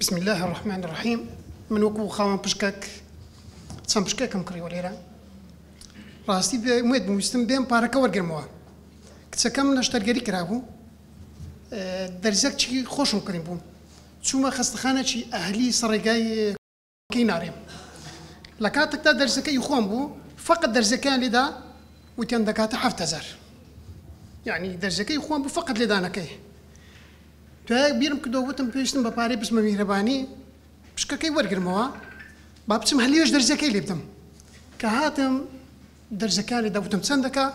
بسم اللە الرحمن الرحیم من وەکو خاوەن پشکەک چەند پشکەکم کڕیوە لێرە ڕاستی بێ ئومێد بووم ویستم بێم پارەکە وەرگرمەوە کچەکەم نەشتەرگەری کرابوو دەرزەک چی خۆشم کڕی بووم چوومە خەستەخانەکی ئەهلی سەڕێگای کەی نارێم لە کاتەکدا دەرزەکە ی خۆم بوو فەقەت دەرزەکەیان لێدا وتیان دەکاتە حەفت هەزار یعنی دەرزەکەی خۆم بوو فەقەت لێدانەکەی دوای بیرم کردەوە وتم پێویستم بە پارەی بچمە میهرەبانی پشکەکەی وەرگرمەوە با بچم هەلیێش دەرزەکەی لێ بدەم کە هاتم دەرزەکان لێدا وتم چەند دەکا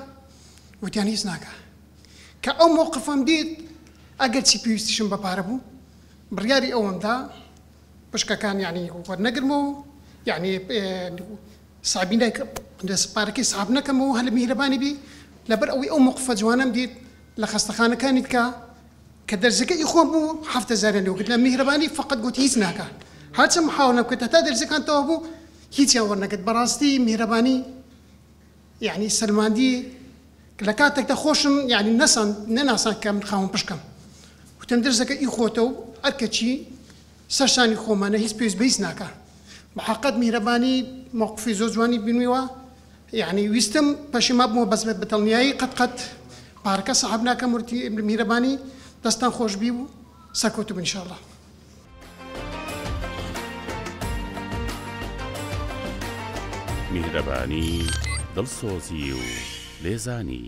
وتیان هیچ ناکە کە ئەو مووقفم دیت ئەگەر چی پێویستیشم بە پارە بوو بڕیاری ئەوەمدا پشکەکان یانی وەرنەگرمەوە و یانی سابی نەکەم سپارەکەی ساب نەکەمەوە هەل میهرەبانی بی لەبەر ئەوەی ئەو موقفە جوانەم دیت لە خەستەخانەکانی بکە کە دەرزەکە ئی خۆم بوو هەفتە زارە لەو گرتە میهرەبانی فقط گوت هیچ ناکە هەرچەم محاولە بکە تا دەرزەکان تەوا بوو هیچیان وەرنەگرت بەڕاستی میهرەبانی یەعنی سەلماندی لە کاتێکدا خۆشم یەعنی نەسان نەناسان کە من خاوەن پشکم وتم درزەکە ئی خۆتە و ئەرکە چی سەر شانی خۆمانە هیچ پێویست بە هیچ ناکا بەحەقت میهرەبانی مەوقفی زۆر جوانی بینیوە یەعنی ویستم پەشیما بمەوە بەس بە دڵنیایی قەت قەت پارەکە سەحب ناکەم ورتی میهرەبانی دەستتان خۆش بی و سەرکەوتوبن ان شاء اللە. میهرەبانی دڵسۆزی و لێزانی